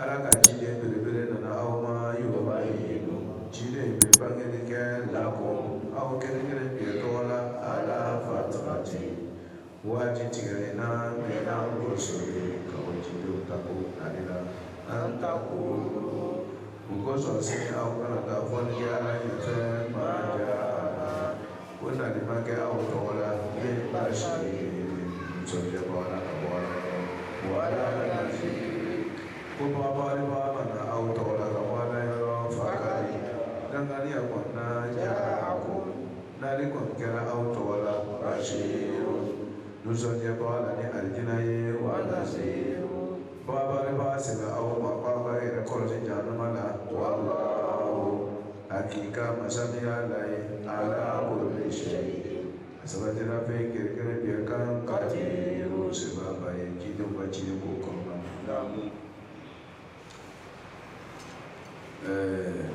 Ala ka ciden belebele nana aw ma yoba ye ciden bɛ bangekɛ kɛ lakɔ aw kɛnɛkɛ bi tɔgɔ la ala fa tɔgɔ cɛ waati tigɛ na mɔgɔso ye ka ciden ta ani la an ta ko mɔgɔ sɔrɔ se aw kana taa fɔya fɛ ma ko na di ma kɛ aw tɔgɔ la ne ba sigi musokɛba la ka bɔ la wala la ko baba ba ma na aw tɔgɔ la ka bɔ la yɔrɔ fa ka di danganiya kɔnɔna ja ko n'ale kɔni kɛra aw tɔgɔ la ba sigi musokɛba la ni alijina ye wala se baba ba sɛbɛn aw ma baba yɛrɛ kɔlɔsi januma la wala Aki ka masaya la ye ala bɛ sɛ ye a saba fɛn kɛrɛfɛkɛrɛn bɛ kan ka jɛ o sɛba ye ji ba ci ko kɔnɔ lamɔ ɛɛ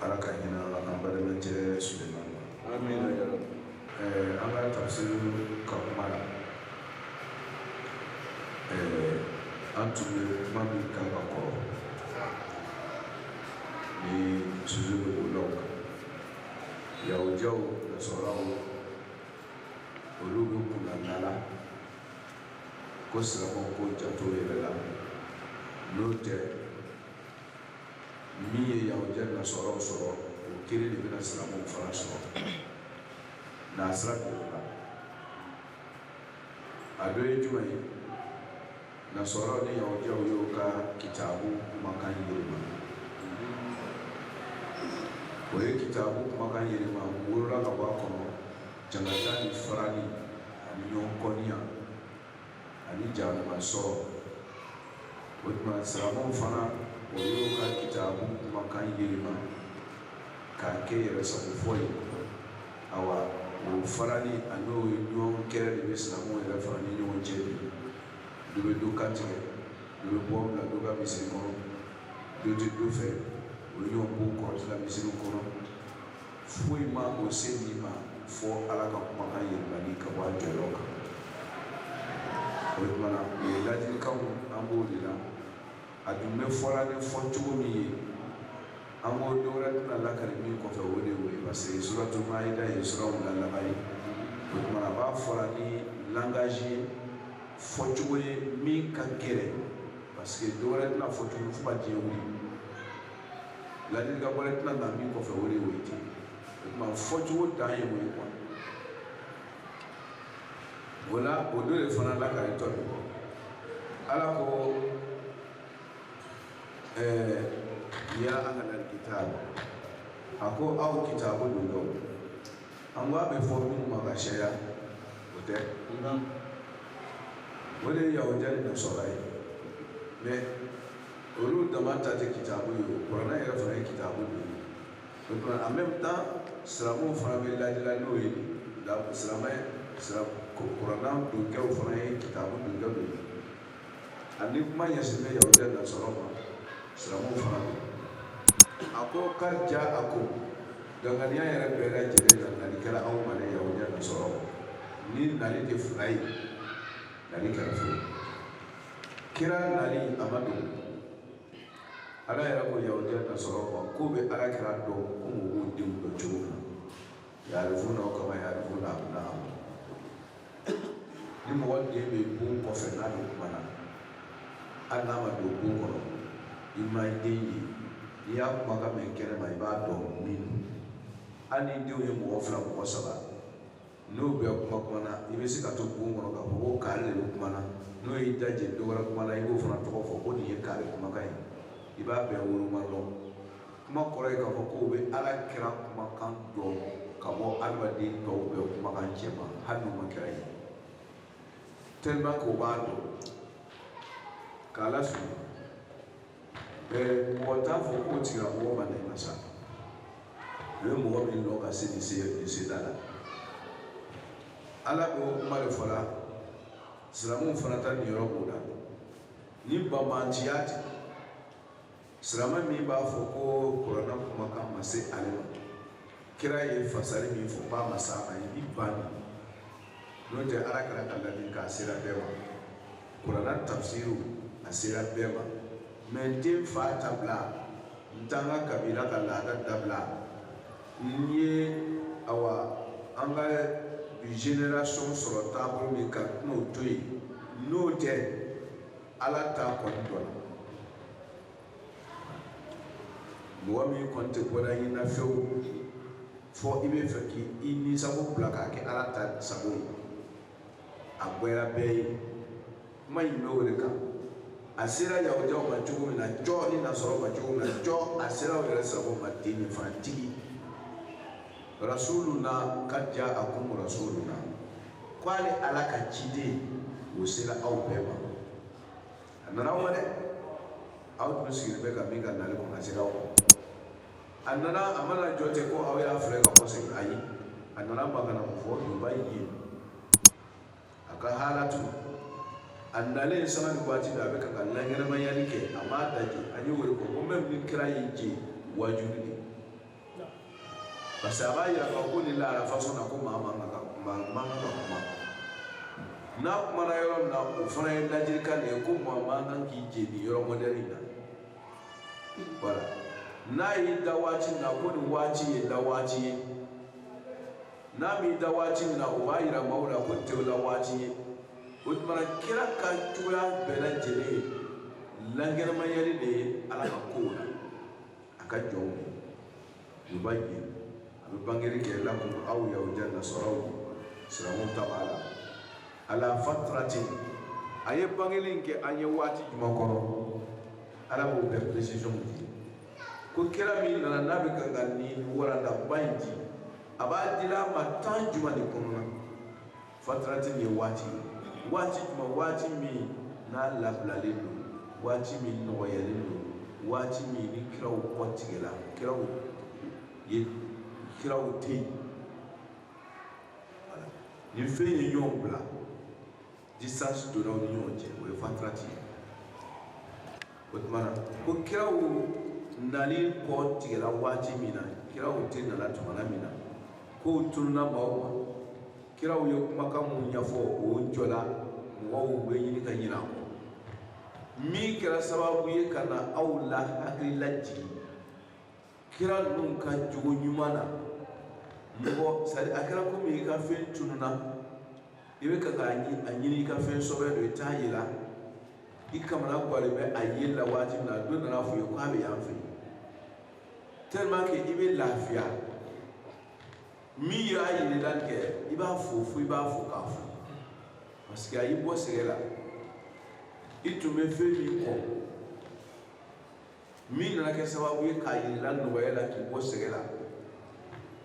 ala ka ɲin an balima cɛ su la Amin ya rabi. Eh, an ka tafsir ka kuma la. Eh, an tun bɛ kuma min kan ka kɔrɔ ni sujet bɛ bolow kan. Yahudiyaw, Nasɔraw, olu ko kɔnɔna na Ala ko silamɛw k'o janto yɛrɛ la n'o tɛ min ye yahudiya nasɔraw sɔrɔ o kelen de bɛna silamɛw fana sɔrɔ n'a sira kɛlɛ la a dɔ ye jumɛn ye nasɔraw ni yahudiyaw y'o ka kitabu kumakan yɛlɛma o ye kitabu kumakan yɛlɛma wolola ka bɔ a kɔnɔ jangata ni farali ani ɲɔgɔn kɔniya ani jahanama sɔrɔ o tuma siramaw fana o y'o ka kitabu kumakan yɛlɛma k'a kɛ yɛrɛ sago fɔ ye awa o farali ani o ɲɔgɔn kɛrɛ de bɛ siramaw yɛrɛ fana ni ɲɔgɔn cɛ bi dɔ bɛ dɔ kan tigɛ dɔ bɛ bɔmu bila dɔ ka misiri kɔnɔ dɔ tɛ dɔ fɛ o ɲɔgɔn b'o kɔrɔtila misiri kɔnɔ foyi ma o se nin ma fo ala ka kumakan yɛlɛmani ka bɔ a jɔyɔrɔ kan o tumana o ye ladilikanw an b'o de la a dun bɛ fɔla ni fɔ cogo min ye an ko dɔ wɛrɛ tɛna lakari min kɔfɛ o de ye parce que suratu maida ye suraw la laban ye o tumana a b'a fɔla ni langage ye fɔcogo ye min ka gɛlɛn parce que dɔ wɛrɛ tɛna fɔ tuguni fo ka diɲɛ wuli ladilikan wɛrɛ tɛna na min kɔfɛ o de y'o ye ten o tuma fɔcogo dan ye o ye kuwa o la o dɔ de fana lakalitɔ de kɔ ala ko ɛɛ ya ahlal kitab a ko aw kitabu donkɛw an ko a bɛ fɔ minnu ma ka siyaya o tɛ o de ye yahudiya ni nasɔra ye mais olu dama ta tɛ kitabu ye o kuranɛ yɛrɛ fana ye kitabu de ye o tuma en même temps silamɛw fana bɛ lajɛla n'o ye la silamɛ silamɛ kuranɛ donkɛw fana ye kitabu donkɛw de ye ani kuma ɲɛsinnen bɛ yahudiya ni nasɔra ma silamɛw fana don a ko qad ja'akum danganiya yɛrɛ bɛɛ lajɛlen na nali kɛra anw ma ne yahudiya ni nasɔra ni nali tɛ fila ye nali kɛra fila ye kira nali a ma don ala yɛrɛ ko yahudiya ni nasɔra ma k'u bɛ ala kira dɔn ko mɔgɔw denw dɔn cogo min na yarifunahu kama yarifuna abna'ahum ni mɔgɔ den bɛ bon kɔfɛ n'a bɛ kuma na hali n'a ma don bon kɔnɔ i ma i den ye n'i y'a kumakan mɛn kɛnɛma i b'a dɔn min don hali ni denw ye mɔgɔ fila mɔgɔ saba n'o bɛ kuma kuma na i bɛ se ka to bon kɔnɔ k'a fɔ ko kaari de bɛ kuma na n'o y'i da jɛ dɔ wɛrɛ kumana i b'o fana tɔgɔ fɔ ko nin ye kaari kumakan ye i b'a bɛɛ woloma dɔn kuma kɔrɔ ye k'a fɔ k'o bɛ ala kira kumakan dɔn ka bɔ adamaden tɔw bɛɛ kumakan cɛ ma hali n'o ma kira ye tellement k'o b'a dɔn k'a lasɔrɔ Ɛɛ mɔgɔ t'a fɔ k'o tigila mɔgɔ ma nɛma sa o ye mɔgɔ min dɔn ka se nin se nin seda la ala b'o kuma de fɔla silamɛw fana ta niyɔrɔ b'o la ni banbantiya tɛ silamɛ min b'a fɔ ko kuranɛ kumakan ma se ale ma kira ye fasari min fɔ k'a ma s'a ma i b'i ban de n'o tɛ ala kira ka ladilikan sera bɛɛ ma kurana tafsiriw a sera bɛɛ ma mais n tɛ n fa ta bila n t'an ka kabila ka laada dabila n ye awa an ka bi generation sɔrɔ taabolo min kan n'o to yen n'o tɛ ala ta kɔni dɔnna mɔgɔ min kɔni tɛ bɔra i na fewu fɔ i b'a fɛ k'i i nisago bila k'a kɛ ala ta sago ye a gwɛra bɛɛ ye kuma in bɛ o de kan a sera yahudiyaw ma cogo min na jɔ ni nasɔrɔ ma cogo min na jɔ a sera aw yɛrɛ sago ma ten nin fana tigi rasuluna qad ja'akum rasuluna k'ale ala ka ciden o sera aw bɛɛ ma a nana aw ma dɛ aw tun sigilen bɛ ka min ka nali kɔnɔ a sera aw a nana a ma na jɔ ten ko aw y'a filɛ ka kɔsegin ayi a nana mun kama ko fɔ yubayyinu a ka hala tun a nalen sanga ni waati bɛɛ a bɛ ka ka lankɛnɛmayali kɛ a m'a da je an ye wele ko ko même ni kira y'i je waajuli de parce que a b'a yira k'a fɔ ko nin lahala façon na ko maa man kan ka kuma n'a kumana yɔrɔ min na o fana ye ladilikan de ye ko maa man kan k'i je nin yɔrɔ mɔdɛli in na voilà n'a y'i da waati min na ko nin waati ye da waati ye n'a m'i da waati min na o b'a yira maaw la ko tɛ la waati ye o tuma na kira ka cogoya bɛɛ lajɛlen ye lankɛnɛmayali de ye ala ka kow la a ka jɔnw yubayyinu a bɛ bangeli kɛ lakum aw yahudiya nasaraw silamɛ ta b'a la ala fatratin a ye bangeli in kɛ an ye waati jumɛn kɔrɔ ala b'o bɛɛ précision di ko kira min nana n'a bɛ ka ka nin walandaba in di a b'a di a ma temps jumɛn de kɔnɔ na Fatratin ye waati jumɛn waati min n'a labilalen don waati min nɔgɔyalen don waati min ni kiraw kɔ tigɛla kiraw ye kiraw tɛ yen nin fɛn ye ɲɔgɔn bila distance donna u ni ɲɔgɔn cɛ o ye fatrati ye o tuma na ko kiraw nali kɔ tigɛla waati min na kiraw tɛ nala tuma min na kow tununa maaw ma kiraw ye kumakan mun ɲɛfɔ o jɔla mɔgɔw bɛ ɲini ka ɲinɛ kɔ min kɛra sababu ye ka na aw la hakili lajigin kira ninnu ka jogo ɲuman na mɔgɔ sari a kɛra komi i ka fɛn tununa i bɛ ka k'a a ɲini i ka fɛn sɔbɛ don i t'a yela i kamanagannen bɛ a yela waati min na dɔ nana f'i ye k'a bɛ yan fɛ yen tellement que i bɛ lafiya min y'a yir'i la kɛ i b'a fo fo i b'a fo k'a fo parce que a y'i bɔ sɛgɛn la i tun bɛ fɛn min kɔ min nana kɛ sababu ye k'a yir'i la nɔgɔya la k'i bɔ sɛgɛn la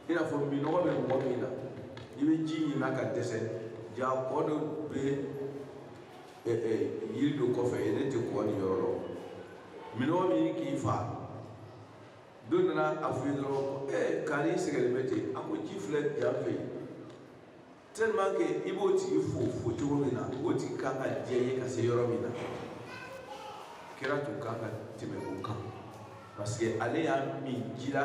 i n'a fɔ minɔgɔ bɛ mɔgɔ min na i bɛ ji ɲinina ka dɛsɛ jaa kɔ dɔ bɛ yiri dɔ kɔfɛ yen e tɛ kɔ nin yɔrɔ lɔn minɔgɔ min k'i faa dɔ nana a f'i ye dɔrɔn ko ee kari sɛgɛlen bɛ ten a ko ji filɛ yan fɛ yen tellement que i b'o tigi fo fo cogo min na o tigi kan ka diya i ye ka se yɔrɔ min na kira tun kan ka tɛmɛ o kan parce que ale y'a min jira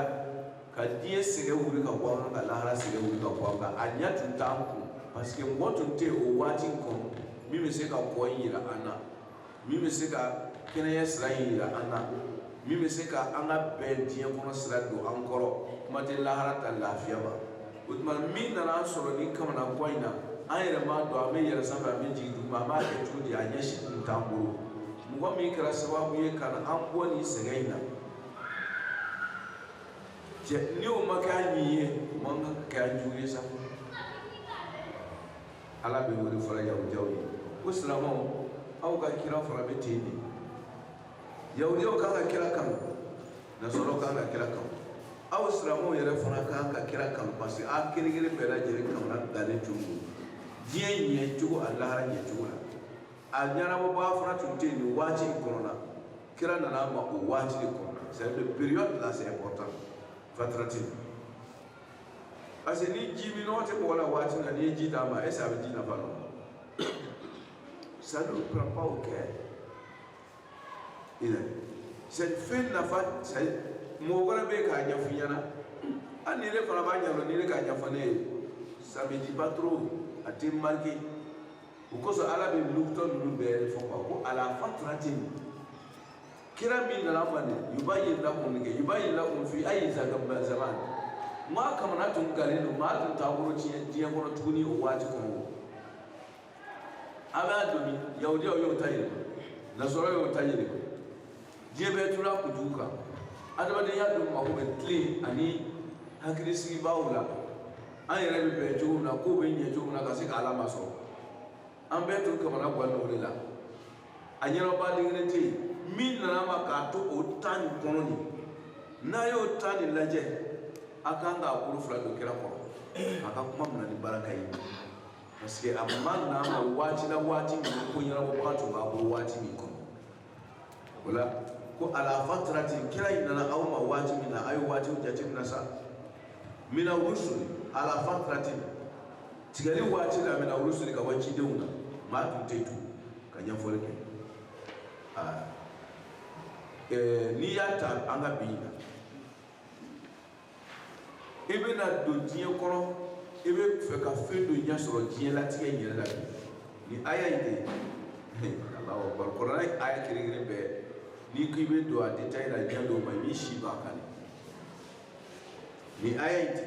ka diɲɛ sɛgɛn wuli ka bɔ an kan ka lahara sɛgɛn wuli ka bɔ an kan a ɲɛ tun t'an kun parce que mɔgɔ tun tɛ yen o waati kɔnɔ min bɛ se ka ko in jira an na min bɛ se ka kɛnɛya sira in yira an na min bɛ se ka an ka bɛn diɲɛ kɔnɔ sira don an kɔrɔ kuma tɛ lahara ta lafiya ma o tuma min nana an sɔrɔ nin kamanagan in na an yɛrɛ m'a dɔn an bɛ yɛlɛ sanfɛ an bɛ jigin duguma an b'a kɛ cogo di a ɲɛsin tun t'an bolo mɔgɔ min kɛra sababu ye ka na an bɔ nin sɛgɛn in na cɛ ni o ma kɛ an ɲin ye o man kan ka kɛ an jugu ye sa ala bɛ o le fɔ la yahudiyaw ye ko silamɛw aw ka kira fana bɛ ten de yahudiyaw kan ka kira kanu nasɔrɔ kan ka kira kanu aw silamɛw yɛrɛ fana kan ka kira kanu parce que a kelen kelen bɛɛ lajɛlen kamana galen tun don diɲɛ ɲɛ cogo a lahara ɲɛ cogo la a ɲɛnabɔbaa fana tun tɛ yen nin waati in kɔnɔna kira nana aw ma o waati de kɔnɔna c'est à dire période là c'est important fatratin parce que ni ji minnɔgɔ tɛ mɔgɔ la waati min na n'i ye ji d'a ma est ce que a bɛ ji nafa dɔn ça ne prend pas au cœur ina c'est fɛn nafa c'est mɔgɔ wɛrɛ bɛ k'a ɲɛfɔ i ɲɛna ani ile fana b'a ɲɛdɔn ni ile k'a ɲɛfɔ ne ye ça me dit pas trop a tɛ marqué o kosɔn ala bɛ lukutɔ ninnu bɛɛ fɔ quoi ko ala fatratin kira min nana fɔ nin yubayyinu lakum min kɛ yubayyinu lakum fi ayi zaman zaman maa kamana tun galen don maa tun t'a bolo tiɲɛ diɲɛ kɔnɔ tuguni o waati kɔnɔ an b'a dɔn yahudiyaw y'o ta yɛlɛma nasɔrɔ y'o ta yɛlɛma diɲɛ bɛɛ tura kunjugu kan adamadenya dun mako bɛ tilen ani hakilisigibaaw la an yɛrɛ bɛ bɛn cogo min na ko bɛ ɲɛ cogo min na ka se ka ala masɔrɔ an bɛɛ tun kamana ganna o de la a ɲɛnaba denkelen tɛ yen min nana a ma k'a to o temps nin kɔnɔ nin n'a y'o temps nin lajɛ a kan k'a bolo fila don kira kɔrɔ a ka kuma minɛ ni baraka ye parce que a ma na a ma waati la waati min ko ɲɛnabɔbaga tun b'a bolo waati min kɔnɔ ala ko ala fatratin kira in nana aw ma waati min na a ye waatiw jateminɛ sa mina rusuli ala fatratin tigɛli waati la mina rusuli ka bɔ cidenw na maa tun tɛ tugun ka ɲɛfɔli kɛ n'i y'a ta an ka bi la i bɛna don diɲɛ kɔnɔ i bɛ fɛ ka fɛn dɔ ɲɛ sɔrɔ diɲɛ latigɛ in yɛrɛ la bi nin aya in de ye alahu akbar kuranɛ aya kelen-kelen bɛɛ n'i ko i bɛ don a détail la diɲɛ dɔw ma i b'i si ban a kan de nin aya in de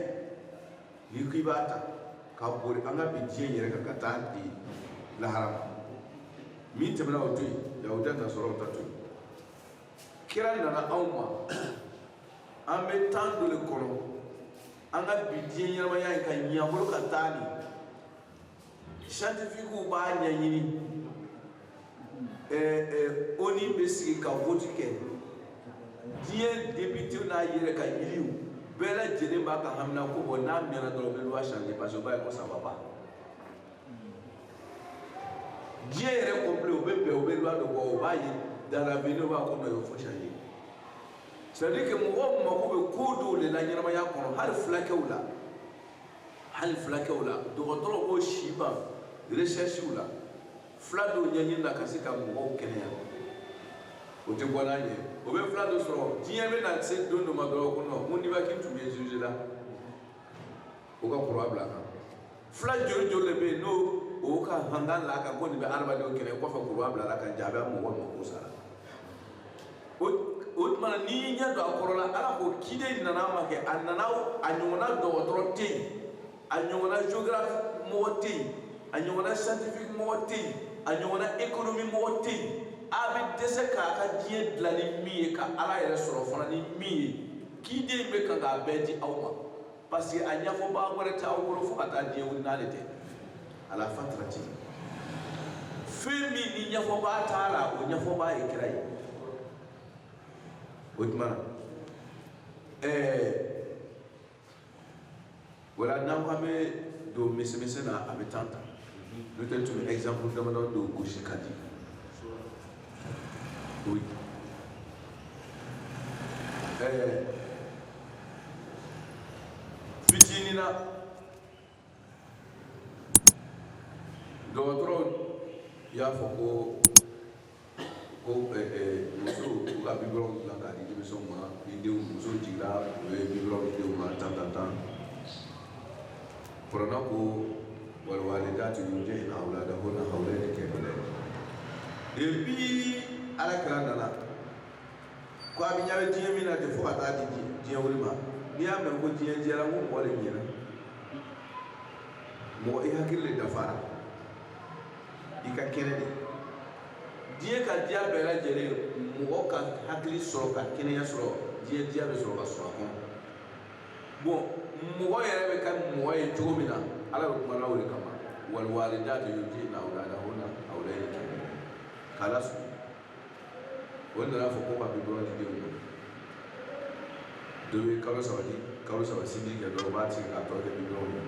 n'i ko i b'a ta ka bori an ka bi diɲɛ yɛrɛ kan ka t'a di lahara ma min tɛmɛna o to yen yahudiya nasɔrɔ o ta to yen kira nana anw ma an bɛ temps dɔ de kɔnɔ an ka bi diɲɛ ɲɛnamaya in ka ɲɛbolo ka taa nin scientifique b'a ɲɛɲini ɛɛ ɛɛ ONU bɛ sigi ka vote kɛ diɲɛ député n'a yɛrɛ ka yiriw bɛɛ lajɛlen b'a ka haminanko bɔ n'a mɛnna dɔrɔn u bɛ loi changer parce que u b'a ye ko ça va pas diɲɛ yɛrɛ complet u bɛ bɛn u bɛ loi dɔ bɔ u b'a ye dans l'avenir u b'a ko non il faut changer c'est à dire que mɔgɔw mako bɛ ko dɔw de la ɲɛnamaya kɔnɔ hali fulakɛw la. hali fulakɛw la dɔgɔtɔrɔ b'o si ban recherche la fula dɔw ɲɛɲini na ka se ka mɔgɔw kɛnɛya o tɛ bɔ n'a ɲɛ o bɛ fula dɔ sɔrɔ diɲɛ bɛ na se don dɔ ma dɔrɔn ko non ko nivaquine tun bɛ zuze la o ka croix bila a kan fula joli joli de bɛ yen n'o o ka hankan la ka ko nin bɛ adamadenw kɛnɛ kɔfɛ croix bilala a kan jaa bi mɔgɔ mako sara o tuma n'i y'i ɲɛ don a kɔrɔ la ala k'o ciden in nana ma kɛ a nana a ɲɔgɔnna dɔgɔtɔrɔ tɛ yen a ɲɔgɔnna géographe mɔgɔ tɛ yen a ɲɔgɔnna scientifique mɔgɔ tɛ yen a ɲɔgɔnna économie mɔgɔ tɛ yen a bɛ taa se k'a ka diɲɛ dilan ni min ye ka ala yɛrɛ sɔrɔ fana ni min ye ciden in bɛ kan k'a bɛɛ di aw ma parce que a ɲɛfɔbaga wɛrɛ tɛ aw bolo fo ka taa diɲɛ wuli n'ale tɛ ala fatrati fɛn min ni ɲɛfɔbaa t'a la o ɲɛfɔbaa ye kira ye o tuma ɛɛ wala n'an ko an bɛ don misimisɛn na a bɛ temps ta n'o tɛ tun bɛ exemple damadɔ dɔ gosi ka di Oui. Eh. Fitinin na dɔgɔtɔrɔw y'a fɔ ko ko eh, eh, musow ka biberon dilan k'a di denmisɛnw ma ni denw muso jiginna u ye biberon di denw ma tan tan tan kuranɛ ko walwalidatu yurdi'na awladahunna hawlayni kamilayn depuis ala kira nana ko a bɛ ɲɛ bɛ diɲɛ min na ten fo ka taa di diɲɛ wuli ma n'i y'a mɛn ko diɲɛ diyara ko mɔgɔ de ɲɛna mɔgɔ i hakili de dafara i ka kɛnɛ de diɲɛ ka diya bɛɛ lajɛlen mɔgɔ ka hakili sɔrɔ ka kɛnɛya sɔrɔ diɲɛ diya bɛ sɔrɔ ka sɔrɔ a kɔnɔ bon mɔgɔ yɛrɛ bɛ kɛ mɔgɔ ye cogo min na ala bɛ kuma na o de kama walwalidatu yurdiina awlaadahunna hawlayni kamilayn k'ala su o nana fɔ ko ka biberon di denw ma dɔ bɛ kalo saba di kalo saba sinji kɛ dɔw b'a tigɛ k'a tɔ kɛ biberon ye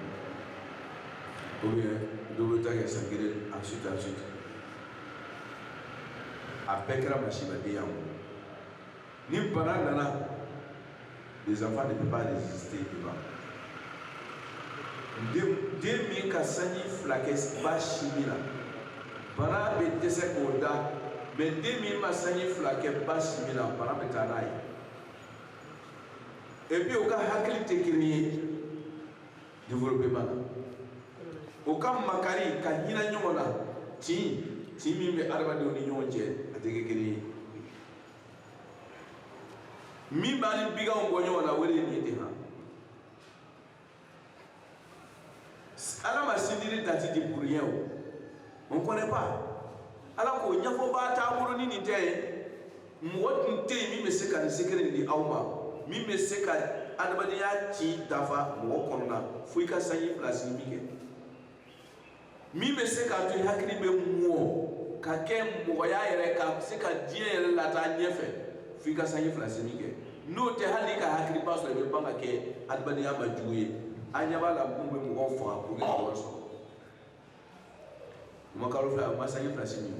ou bien dɔ bɛ taa kɛ san kelen ensuite ensuite a bɛɛ kɛra masiba denya ma ni bana nana les enfants ne peuvent pas résister devant den min ka sanji fila kɛ ba sinji la bana bɛ dɛsɛ k'o da mais den min ma sanji fila kɛ ba sinji la bana bɛ taa n'a ye et puis u ka hakili tɛ kelen ye développement na u ka makari ka hinɛ ɲɔgɔn na tin tin min bɛ adamadenw ni ɲɔgɔn cɛ a tɛ kɛ kelen ye min b'an ni biganw bɔ ɲɔgɔn na o de ye nin de kan ala ma sindiri dati di pour rien on connaît pas ala ko ɲɛfɔbaa t'an bolo ni nin tɛ ye mɔgɔ tun tɛ yen min bɛ se ka nin secret nin di aw ma min bɛ se ka adamadenya ci dafa mɔgɔ kɔnɔna fo i ka sanji fila sinmin kɛ min bɛ se k'a to i hakili bɛ mɔ ka kɛ mɔgɔya yɛrɛ ka se ka diɲɛ yɛrɛ lataa ɲɛfɛ f'i ka sanji fila sinmin kɛ n'o tɛ hali i ka hakiliba sɔrɔ i bɛ ban ka kɛ adamadenya ma jugu ye an ɲɛ b'a la mun bɛ mɔgɔw faga pour que ka wari sɔrɔ u ma kalo fila u ma sanji fila sinmin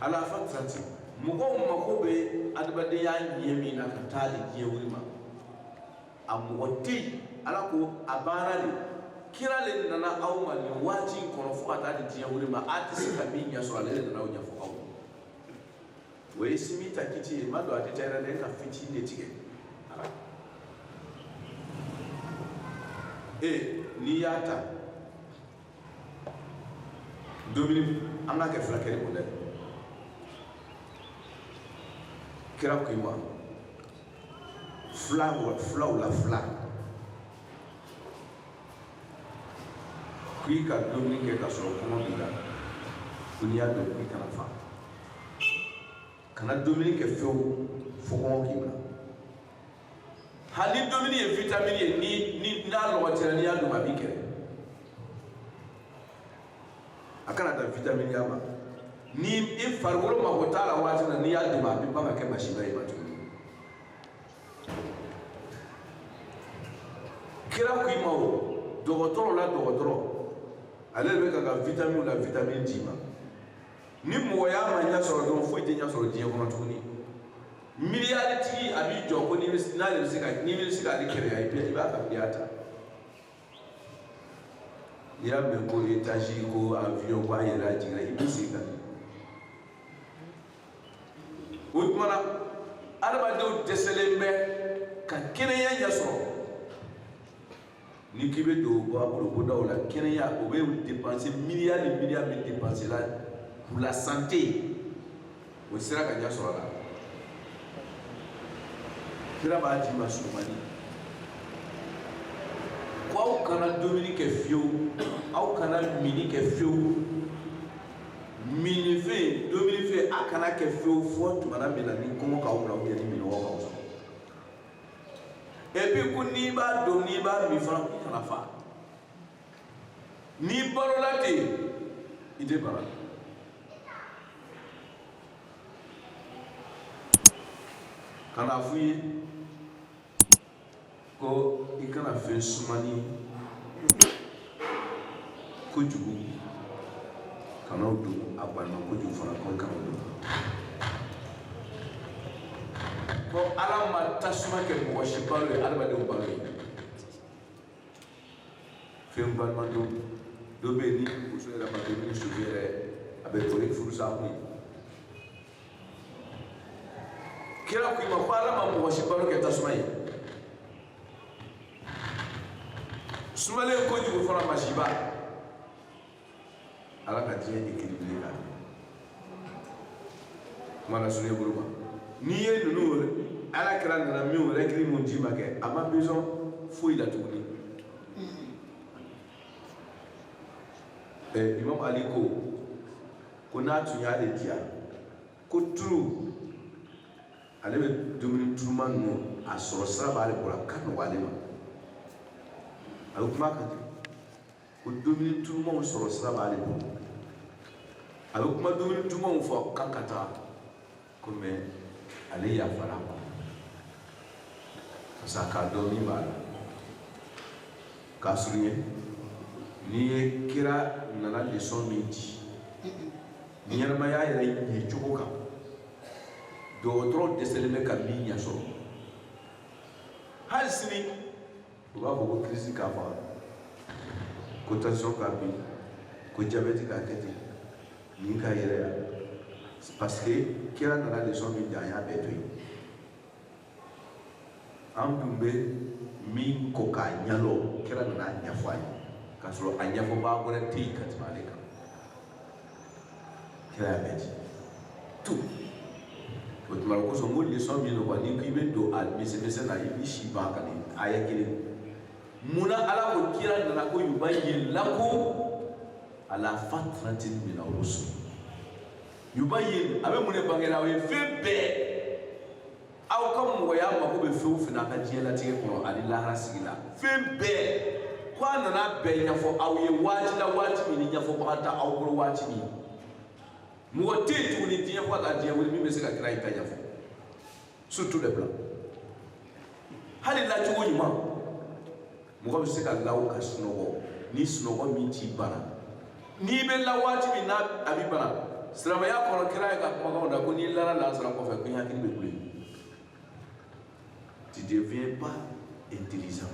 ala fa tanti mɔgɔw mako bɛ adamadenya ɲɛ min na ka taa de diɲɛ wuli ma a mɔgɔ tɛ yen ala ko a baara de kira le nana aw ma nin waati in kɔnɔ fo ka taa di diɲɛ wuli ma a tɛ se ka min ɲɛ sɔrɔ ale de nana o ɲɛfɔ aw ma o ye sinmin ta kiti ye ma don a détail la dɛ ka fitinin de tigɛ a la ee n'i y'a ta dumuni an k'a kɛ furakɛli kun dɛ kira ko i ma fila filaw la fila k'i ka dumuni kɛ ka sɔrɔ kɔngɔ b'i la ko n'i y'a dun k'i kana fa kana dumuni kɛ fewu fo kɔngɔ k'i minɛ hali ni dumuni ye vitamini ye ni ni n'a lɔgɔ t'i ra n'i y'a dun a b'i kɛlɛ a kana dan vitaminiya ma ni i farikolo mago t'a la waati na n'i y'a dun a bɛ ban ka kɛ masiba y'i ma tuguni kira ko i ma o dɔgɔtɔrɔ la dɔgɔtɔrɔ ale de bɛ ka ka vitamini la vitamini d'i ma ni mɔgɔya ma ɲɛ sɔrɔ dɔrɔn foyi tɛ ɲɛ sɔrɔ diɲɛ kɔnɔ tuguni Miliyaritigi a b'i jɔ ko n'ale bɛ se ka n'i bɛ se k'ale kɛnɛya i b'a ka miliyari ta n'i y'a mɛn ko étage ko avion ko a yɛlɛla a jiginna i bɛ se ka o tuma na adamadenw dɛsɛlen bɛ ka kɛnɛya ɲɛ sɔrɔ ni k'i bɛ don bɔ a bolo ko daw la kɛnɛya o bɛ dépenser milliard ni milliard min dépenser la pour la santé o sera ka ɲɛ sɔrɔ a la kira b'a d'i ma surumani ko aw kana dumuni kɛ fiyewu aw kana minni kɛ fiyewu minifɛn dumunifɛn a kana kɛ fiyewu fɔ tumana min na ni kɔngɔ k'aw minɛ ou bien ni minnɔgɔ k'aw sɔrɔ et puis ko n'i b'a dun n'i b'a min fana k'i kana fa n'i balola ten i tɛ bana ka na f'u ye ko i kana fɛn sumani kojugu kan'o dun a gbanima kojugu fana ko kan'o dun ko ala ma tasuma kɛ mɔgɔ si balo ye adamadenw balo ye fɛn gbanima dɔ bɛ yen ni muso yɛrɛ ma kɛ ni soso yɛrɛ a bɛ to ni furusa kun ye kira ko i ma ko ala ma mɔgɔ si balo kɛ tasuma ye sumalen kojugu fana masiba ala ka diɲɛ da équilibre kan kuma lasurunya bolo ma n'i ye ninnu ala kira nana min règle mun d'i ma kɛ a ma besoin foyi la tuguni eh, imam ali ko ko n'a tun y'ale diya ko turu ale bɛ dumuni turuma ninnu a sɔrɔ sira b'ale bolo a ka nɔgɔ ale ma a bɛ kuma kan ko dumuni turumaw sɔrɔ sira b'ale bolo a bɛ kuma dumuni turumaw fɔ kan ka taa ko mais ale yafara ma parce que a k'a dɔn min b'a la k'a surunya n'i ye kira nana lesɔn min di ɲɛnamaya yɛrɛ ɲɛ cogo kan dɔgɔtɔrɔ dɛsɛlen bɛ ka min ɲɛ sɔrɔ hali sini u b'a fɔ ko kirisi k'a faga ko tansiyɔn k'a bin ko jabɛti k'a kɛ ten nin ka yɛrɛ ya parce que kira nana lesɔn min di an y'a bɛɛ to yen an tun bɛ min kɔ k'a ɲɛdɔn kira nana a ɲɛfɔ an ye k'a sɔrɔ a ɲɛfɔbaa wɛrɛ tɛ yen ka tɛmɛ ale kan kira y'a bɛɛ di tout o tuma o kosɔn ko lesɔn min don n'i ko i bɛ don a misɛnmisɛn na i b'i si ban ka nin aya kelen mun na ala ko kira nana ko yubayyin lakum ala fatratin min ar-rusul yubayyin a bɛ mun de bangela aw ye fɛn bɛɛ aw ka mɔgɔya mako bɛ fɛn o fɛn na a ka diɲɛlatigɛ kɔnɔ ani lahara sigi la fɛn bɛɛ ko a nana bɛɛ ɲɛfɔ aw ye waati la waati min ni ɲɛfɔbaga tɛ aw bolo waati min mɔgɔ tɛ yen tuguni diɲɛ fo ka taa diɲɛ wuli min bɛ se ka kira in ta ɲɛfɔ sur tous les plans hali lacogo ɲuman mɔgɔ bɛ se ka law ka sunɔgɔ ni sunɔgɔ min t'i bana n'i bɛ la waati min n'a b'i bana silamɛya kɔnɔ kira ye ka kumakanw na ko n'i lara lansara kɔfɛ ko i hakili bɛ kule tu deviens pas intelligent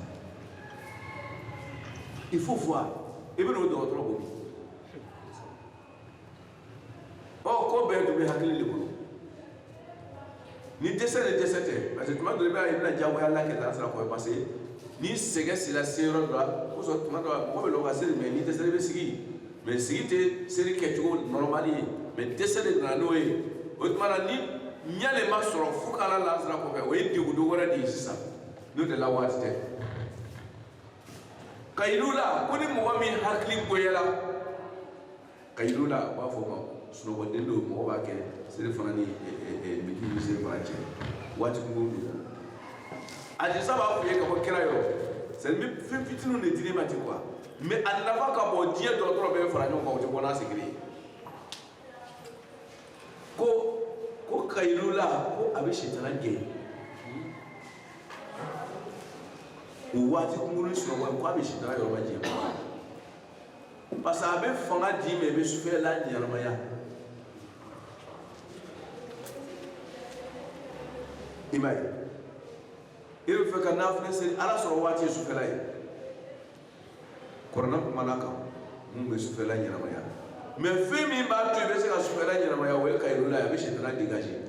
il faut voir i bɛ n'o dɔgɔtɔrɔ ko bi ɔ ko bɛɛ tun bɛ hakili de kɔnɔ ni dɛsɛ de dɛsɛ tɛ parce que tuma dɔ i b'a ye i bɛna diyagoya la kɛ lansara kɔ parce que ni sɛgɛn sera se yɔrɔ dɔ la o sɔrɔ tuma dɔ la mɔgɔ bɛ lɔ ka seli mais ni dɛsɛ de bɛ sigi mais sigi tɛ seli kɛcogo normal ye mais dɛsɛ de nana n'o ye o tuma na ni ɲɛ de ma sɔrɔ fo ka la lansara kɔfɛ o ye degun dɔ wɛrɛ de ye sisan n'o tɛ la waati tɛ kayilula ko ni mɔgɔ min hakili goyara kayilula u b'a fɔ ma sunɔgɔden don mɔgɔ b'a kɛ selifana ni midi ni selifana cɛ waati kunko de la hadith saba f'i ye ka bɔ kira yɔrɔ seli bɛ fɛn fitininw de dil'i ma ten quoi mais a nafa ka bon diɲɛ dɔgɔtɔrɔ bɛɛ fara ɲɔgɔn kan o tɛ bɔ n'a sigili ye ko ko kayilula ko a bɛ sitana gɛn o waati kunkuruni sunɔgɔ ko a bɛ sitana yɔrɔ ma jɛ parce que a bɛ fanga d'i ma i bɛ sufɛla ɲɛnamaya i m'a ye i bɛ fɛ ka nafila seli ala sɔrɔ waati ye sufɛla ye kurana kumana kan mun bɛ sufɛla ɲɛnamaya mais fɛn min b'a to i bɛ se ka sufɛla ɲɛnamaya o ye kayirula ye a bɛ sitana dégager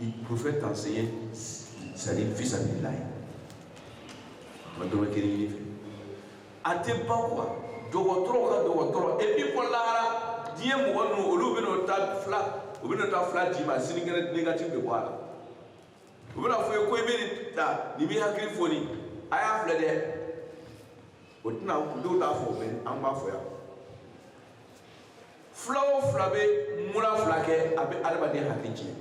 Le prophète enseigne, c'est-à-dire fi sabilillahi a ma dɔrɔmɛ kelen ɲini i fɛ. A tɛ ban quoi dɔgɔtɔrɔ ka dɔgɔtɔrɔ et puis ko lahara diɲɛ mɔgɔ ninnu olu bɛna taa fila u bɛna taa fila d'i ma sinikɛnɛ négatif bɛ bɔ a la u bɛna fɔ i ye ko i bɛ nin ta nin b'i hakili foni a y'a filɛ dɛ o tɛna dɔw t'a fɔ mais an b'a fɔ yan fila o fila bɛ mura fila kɛ a bɛ adamaden hakili tiɲɛ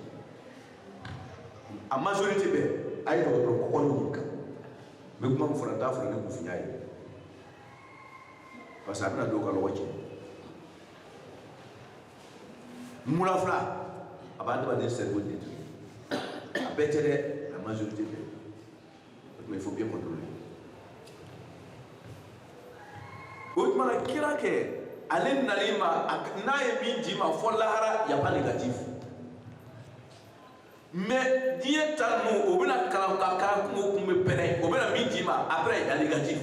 la majorité bɛɛ a ye dɔgɔtɔrɔ kɔkɔ ɲininka n bɛ kuma min fɔla n t'a fɔla ni kunfinya ye parce que a bɛna dɔw ka lɔgɔ tiɲɛ mura fila a bɛ adamaden cerveau détruire a bɛɛ tɛ dɛ la majorité bɛɛ mais il faut bien contrôler o tuma na kira kɛ ale nali ma n'a ye min d'i ma fɔ lahara y a pas négatif mais diɲɛ ta ninnu o bɛna kalan ka kalan kungo kun bɛ pɛrɛn o bɛna min d'i ma après y a négatif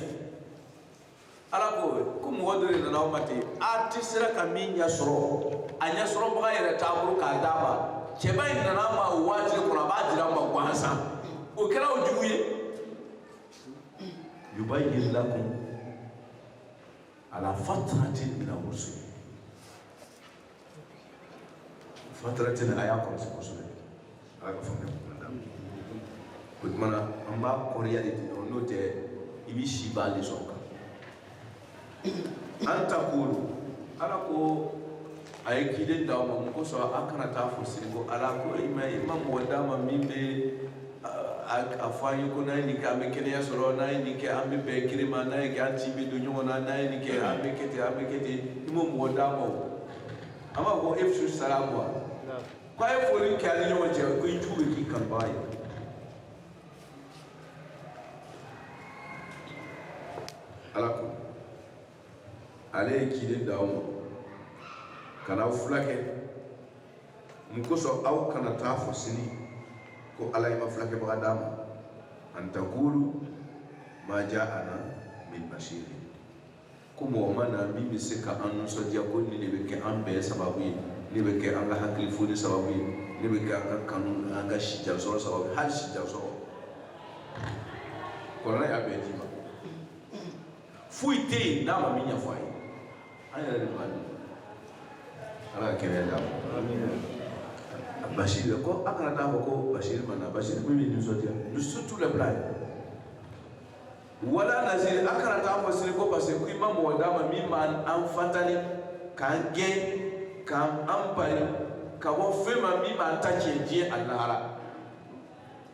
ala ko ko mɔgɔ dɔ de nana aw ma ten a tɛ sera ka min ɲɛ sɔrɔ a ɲɛ sɔrɔbaga yɛrɛ t'a bolo k'a d'a ma cɛba in nana a ma o waati de kɔnɔ a b'a dira a ma gansan o kɛra o jugu ye yubayyinu lakum ala fatratin mina rusul fatratin a y'a kɔlɔsi kosɛbɛ ala ka faamuya kuma da o tuma na an b'a kɔrɔya de ten n'o tɛ i bɛ si ba de sɔrɔ kan an takulu ala ko a ye kiden d'aw ma mun kosɔn a kana taa fɔ sini ko ala ko i ma i ma mɔgɔ d'a ma min bɛ a fɔ an ye ko n'an ye nin kɛ an bɛ kɛnɛya sɔrɔ n'an ye nin kɛ an bɛ bɛn kiri ma n'an ye kɛ an tin bɛ don ɲɔgɔn na n'an ye nin kɛ an bɛ kɛ ten an bɛ kɛ ten i m'o mɔgɔ d'a ma o an b'a fɔ ko afsu salamu ko a ye foli kɛ an ni ɲɔgɔn cɛ ko i jugu bɛ k'i kanubaga ye ala ko ale ye ciden d'aw ma ka n'aw fulakɛ mun kosɔn aw kana taa fɔ sini ko ala e ma fulakɛbaga d'a ma an takulu ma ja ana min basiri ko mɔgɔ ma na min bɛ se ka an nisɔndiya ko nin de bɛ kɛ an bɛɛ sababu ye ne bɛ kɛ an ka hakili foni sababu ye ne bɛ kɛ an ka kanu an ka sijansɔrɔ sababu ye hali sijansɔrɔ kɔlɔlɔ y'a bɛɛ d'i ma foyi tɛ yen n'a ma min ɲɛfɔ a ye an yɛrɛ de b'a dɔn ala ka kɛnɛya d'a ma basiri ko a kana taa fɔ ko basiri ma na basiri min bɛ nisɔndiya surtout les blagues wala naziri a kana taa fɔ sini ko parce que ko i ma mɔgɔ d'a ma min b'an avertir k'an gɛn k'an bali ka bɔ fɛn ma min b'an ta tiɲɛ diɲɛ a lahara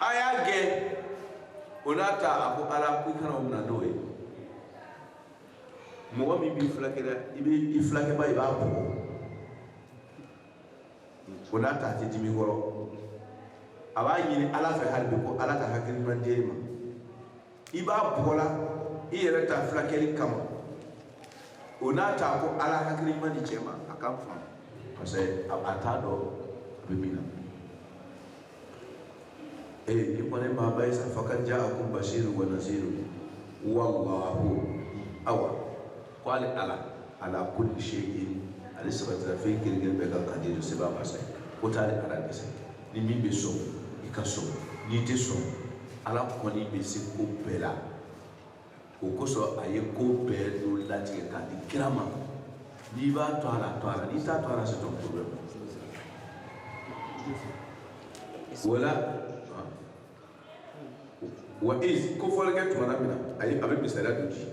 a y'a gɛn o n'a ta a ko ala ko i kana o minɛ n'o ye mɔgɔ min b'i fulakɛ dɛ i bɛ i fulakɛba i b'a bugɔ o n'a ta a tɛ dimi kɔrɔ a b'a ɲini ala fɛ hali bi ko ala ka hakili ɲuman di e ma i b'a bugɔla i yɛrɛ ta fulakɛli kama o n'a ta ko ala hakili ɲuman di cɛ ma a k'an faamu parce que a a t'a dɔn a bɛ min na eh ni kɔni maa ba ye sa faqad ja'akum bashirun wa nazirun wallahu awa ko ale ala ala kulli shay'in ale sabatira fɛn kelen-kelen bɛɛ kan kadiru seba masa ko t'ale ala dɛsɛ ni min bɛ sɔn i ka sɔn n'i tɛ sɔn ala kɔni bɛ se ko bɛɛ la o kosɔn a ye ko bɛɛ dɔ latigɛ k'a di kira ma n'i b'a to a la to a la n'i t'a to a la c'est ton problème voilà wa iz kofɔli kɛ tumana min na a bɛ misaliya dɔ di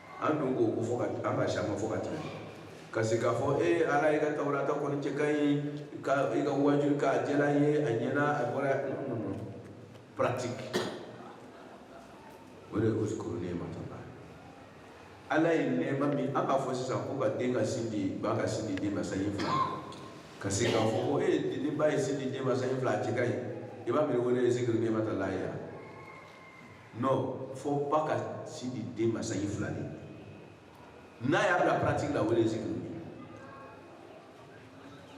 an dun k'o ko fɔ ka an ka siyama fo ka tɛmɛ ka se k'a fɔ e ala i ka tawurata kɔni cɛ ka ɲi ka i ka wajuli k'a jɛla ye a ɲɛna a bɔra pratique o de ye uzkuru ni'matallahi ala ye nɛɛma min an b'a fɔ sisan ko ka den ka sin di ba ka sin di den ma sanji fila ka se k'a fɔ ko e ni ba ye sin di den ma sanji fila a cɛ ka ɲi i b'a miiri k'o de ye zikiri ni'matallahi ya non fo ba ka sin di den ma sanji fila de n'a y'a bila pratique la o de ye zikiri ye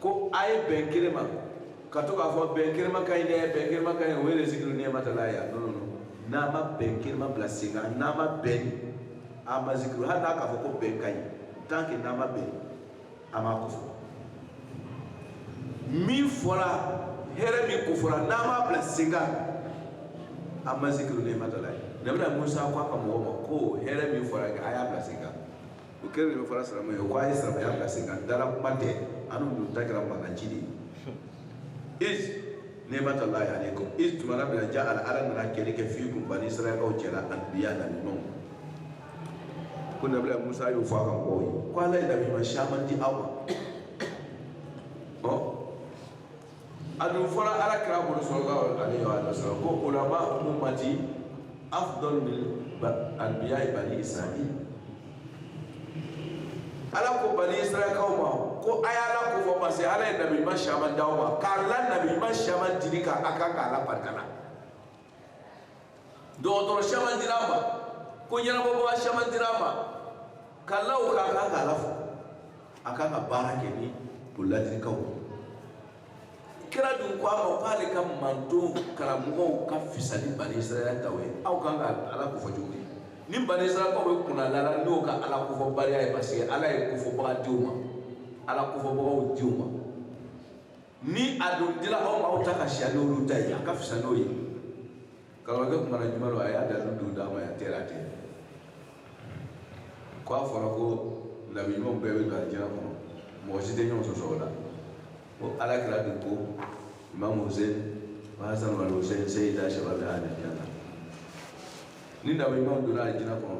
ko a ye bɛn kelen ma ka to k'a fɔ bɛn kelen ma ka ɲi dɛ bɛn kelen ma ka ɲi o de ye zikiri ni'matallahi ya non non non n'a ma bɛn kelen ma bila sen kan n'a ma bɛn a ma zikiri hali n'a k'a fɔ ko bɛn ka ɲi tant que n'a ma bɛn a m'a ko fɔ min fɔra hɛrɛ min ko fɔra n'an m'a bila sen kan an ma zikiru ni'matallahi nabila musa ko a ka mɔgɔw ma ko hɛrɛ min fɔra a y'a bila sen kan o kelen de bɛ fɔra silamɛ ye ko a ye silamɛya bila sen kan dala kuma tɛ annu ta kɛra mankan ci de ye iz ni'matallahi alaykum iz tumana min na ja'ala ala nana kɛli kɛ fiikum bani israɛlkaw cɛla anbiya nabi ɲumanw ko nabila musa y'o fɔ a ka mɔgɔw ye ko ala ye nabi ɲuman caman di aw ma ɔ a dun fɔra ala kira bolo sallallahu alaihi wa sallam ko ulama ummati afdalu min anbiya'i bani israɛli ala ko bani israɛlkaw ma ko a y'ala ko fɔ parce que ala ye nabi ɲuman caman di aw ma k'a la nabi ɲuman caman dili kan a kan k'ala barika la dɔgɔtɔrɔ caman dira a ma ko ɲɛnabɔbaga caman dira a ma k'a la o kan a kan k'ala fo a kan ka baara kɛ ni u ladilikanw kira dun ko a ma k'ale ka mantonw karamɔgɔw ka fisa ni bani israɛl taw ye aw kan ka ala ko fɔ cogo di ni bani israɛlkaw bɛ kunnalala n'u ka ala kofɔbaliya ye parce que ala ye kofɔbaga di u ma ala kofɔbagaw di u ma ni a dun dira aw ma aw ta ka siya n'olu ta ye a ka fisa n'o ye karamɔgɔkɛ kuma na juma don a y'a dalilu d'a ma yan tɛ a tɛ ko a fɔra ko nabi ɲumanw bɛɛ bɛ don alijɛnɛ kɔnɔ mɔgɔ si tɛ ɲɔgɔn sɔsɔ o la ko ala kira dun ko imamu hussein hasan wal hussein seyida shababi al-janna ni nabi ɲumanw donna alijɛnɛ kɔnɔ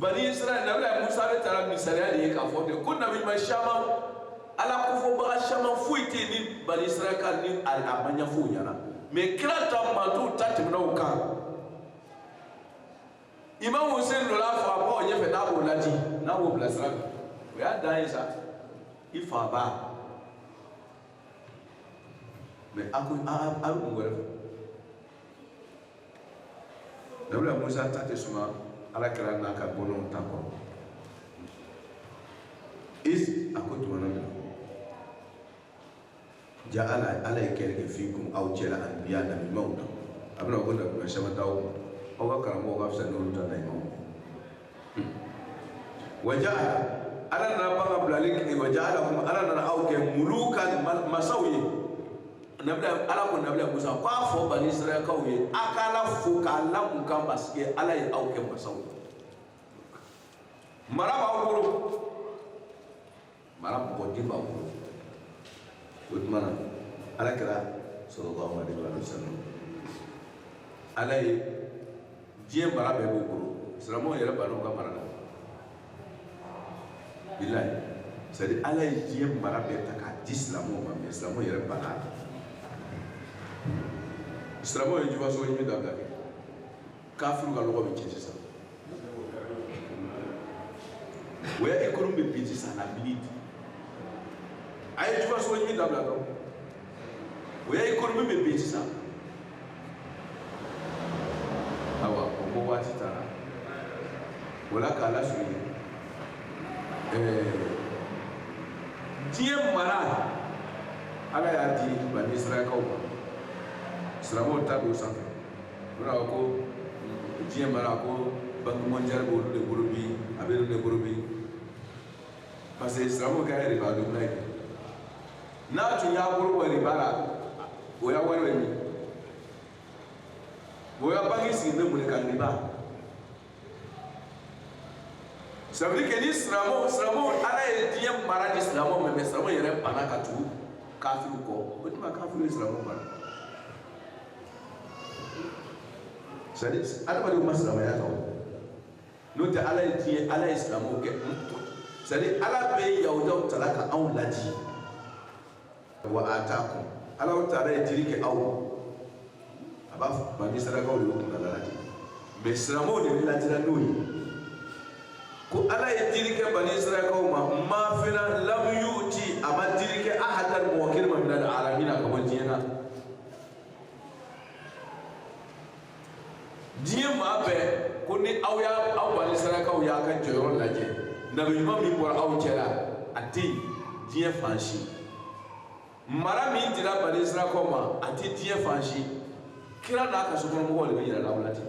bani israɛl nabila musa bɛɛ tara misaliya de ye k'a fɔ de ko nabima caman ala kofɔbaga caman foyi tɛ ni bani israɛl ka ni a ma ɲɛfɔw ɲɛna mɛ kira ta mantɔn ta tɛmɛna o kan imam hussein dɔ la faga bɔ o ɲɛfɛ n'a b'o ladi n'a b'o bilasira o y'a dan ye sa i fa ba mɛ a ko a bɛ mun wɛrɛ fɛ nabila musa ta tɛ suma ala kira n'a ka bɔnnaw ta kɔrɔ iz a ko tumana min ja ala ala ye kɛli kɛ fikum aw cɛla anbiya nabimaw na a bɛna ko nabima caman t'aw ma aw ka karamɔgɔw ka fisa n'olu ta nabimaw waja ala nana ban ka bilali kɛ waja alakum ala nana aw kɛ mulukan masaw ye nabila ala ko nabila musa ko a fɔ bani israɛlkaw ye a ka ala fo k'a la mun kan parce que ala ye aw kɛ masaw ye mara b'aw bolo maraba ko de b'aw bolo o tuma na ala kira sallallahu alayhi wasallam ala ye diɲɛ mara bɛɛ k'o bolo silamɛw yɛrɛ banna o ka mara la bilayi c'est-à-dire ala ye diɲɛ mara bɛɛ ta k'a di silamɛw ma mɛ silamɛw yɛrɛ banna silamɛw ye jufa sɔrɔ ɲini dabila kɛ kafiri ka lɔgɔ bɛ ci sisan o ya ekonomi bɛ bin sisan na bili di a ye jufa sɔrɔ ɲini dabila dɔrɔn o ya ekonomi bɛ bin sisan awa o ko waati taara o la k'a lasurunya ɛɛ diɲɛ mara ala y'a di bani israɛlkaw ma silamɛw ta don sanfɛ mun na ko diɲɛ mara ko banque mondiale b'olu de bolo bi a bɛ olu de bolo bi parce que silamɛw ka riba donna ye n'a tun y'a bolo bɔ riba la o ya wari bɛ min o ya banque sigi bɛ mun de kan riba ça veut dire que ni silamɛw silamɛw ala ye diɲɛ mara di silamɛw ma mais silamɛw yɛrɛ banna ka tugu kafiriw kɔ o tuma kafiriw ye silamɛw mara c'est-à-dire adamadenw ma silamɛya ta o n'o tɛ ala ye diɲɛ ala ye silamɛw kɛ c'est-à-dire ala bɛ yahudaw tala ka anw laji wa atakum ala taala ye dili kɛ aw a b'a fɔ bani sarakaw de y'o kuntala laji mɛ silamɛw de bɛ lajira n'o ye ko ala ye dili kɛ bani sarakaw ma ma fɛn na lam yuti a ma dili kɛ ahadan mɔgɔ kelen ma minal alamina ka bɔ diɲɛ na diɲɛ maa bɛɛ ko ni aw y'a aw bani sarakaw y'aw ka jɔyɔrɔ lajɛ nabi ɲuman min bɔra aw cɛla a tɛ yen diɲɛ fan si mara min dira bani sarakaw ma a tɛ diɲɛ fan si kira n'a ka sokɔnɔmɔgɔw de bɛ yɛlɛ aw la ten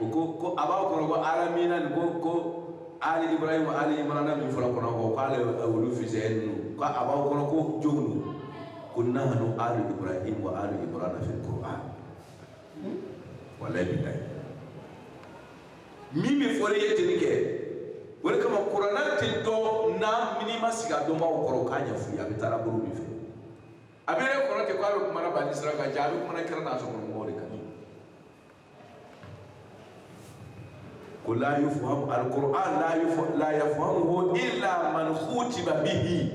u ko ko a b'a kɔnɔ ko alamina nin ko ko ali ibrahima ali imrana min fɔra kɔnɔ ko ala y'olu fisɛya ninnu ko a b'aw kɔnɔ ko jɔn don ko nahanu ali ibrahim wa ali imrana fi qur'an walayi bilayi min bɛ fɔli ye teni kɛ o de kama kurana tɛ dɔn na n'i ma sigi a dɔnbaaw kɔrɔ k'a ɲɛf'i ye a bɛ taara bolo min fɛ a bɛ yɛrɛ kɔrɔ ten k'a bɛ kumana bani sira kan jaa a bɛ kumana kira n'a sokɔnɔmɔgɔw de kan ko la yafham al qur'an la yaf la yafhamuhu illa man khutiba bihi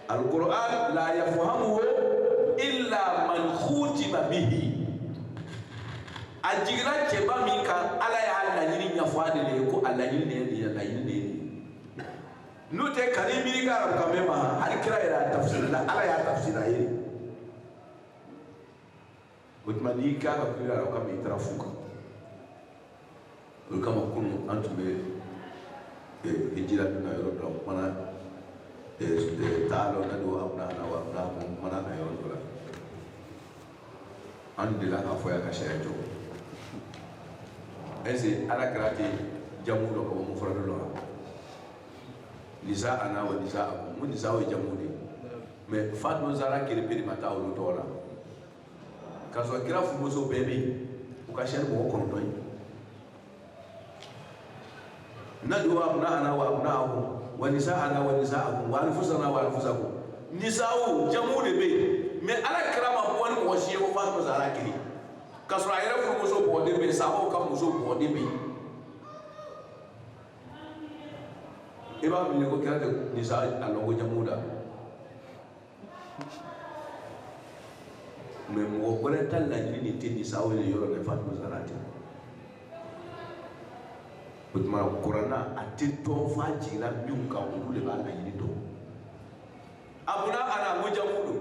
al qur'an la yafhamuhu illa man khutiba bihi a jiginna cɛba min kan ala y'a laɲini ɲɛfɔ a de la ye ko a laɲini de ye nin ye laɲini de ye nin ye n'o tɛ kan'i miiri ka arabukan bɛɛ ma hali kira yɛrɛ a tafsiri la ala y'a tafsiri a ye. o tuma n'i k'a ka kɛ larabukan ma i taara fu kan o de kama kunu an tun bɛ hijira dun na yɔrɔ dɔ la kumana taa dɔ na don abuna ana wa abuna akum kumana na yɔrɔ dɔ la an delila k'a fɔ yan ka sariya jɔ ɛse ala kira tɛ jamu dɔn ka bɔ mufaradu la nisa ana wa nisa akum nisa o ye jamu de ye mɛ fatima zahara kelenpe de ma taa olu tɔgɔ la k'a sɔrɔ kira furumuso bɛɛ bɛ yen u ka ca ni mɔgɔ kɔnɔntɔn ye nadu abuna ana wa abuna akum wa nisa ana wa nisa akum wa anfusana wa anfusakum nisaw jamu de bɛ yen mɛ ala kira ma bɔ ni mɔgɔ si ye fo fatima zahara kelen k'a sɔrɔ a yɛrɛ furumuso bɔgɔden bɛ yen sahabaw ka muso bɔgɔden bɛ yen i b'a miiri ko kira tɛ nisa a lɔn ko jamu don mɛ mɔgɔ wɛrɛ t'ala laɲini de tɛ nisa o ye yɔrɔ ni fatima zahara tɛ o tuma kurana a tɛ dɔn f'a jiginna min kan olu de b'a laɲini dɔn abuna ana o jamu don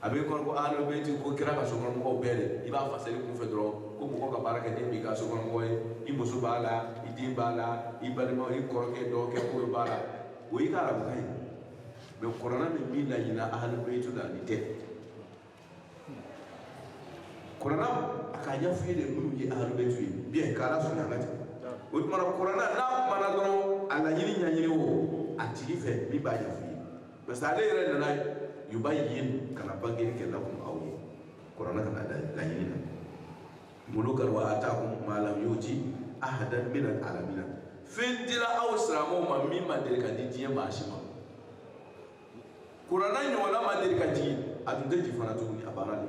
a bɛ kɔrɔ ko ahlul bayt ko kira ka sokɔnɔmɔgɔw bɛɛ de i b'a fasali kunfɛ dɔrɔn ko mɔgɔ ka baarakɛden b'i ka sokɔnɔmɔgɔ ye i muso b'a la i den b'a la i balima i kɔrɔkɛ dɔgɔkɛ ko bɛɛ b'a la o y'i ka arabukan ye mais kurana min b'i laɲini ahlul bayt la ni tɛ kurana a k'a ɲɛfɔ ye de minnu ye ahlul bayt ye biyɛn k'ala sɔnni a ka jɛ o tuma kurana n'a kumana dɔrɔn a laɲini ɲɛɲini o a tigi fɛ min b'a ɲɛfɔ parce que ale yɛrɛ nana yubayyin ka na bangeli kɛ lakum aw ye kurana kana laɲini na mulukan wa atakum ma lam yuti ahadan min al alamina fɛn dira aw silamɛw ma min ma deli ka di diɲɛ maa si ma kurana ɲɔgɔnna ma deli ka jigin a tun tɛ jigin fana tuguni a banna de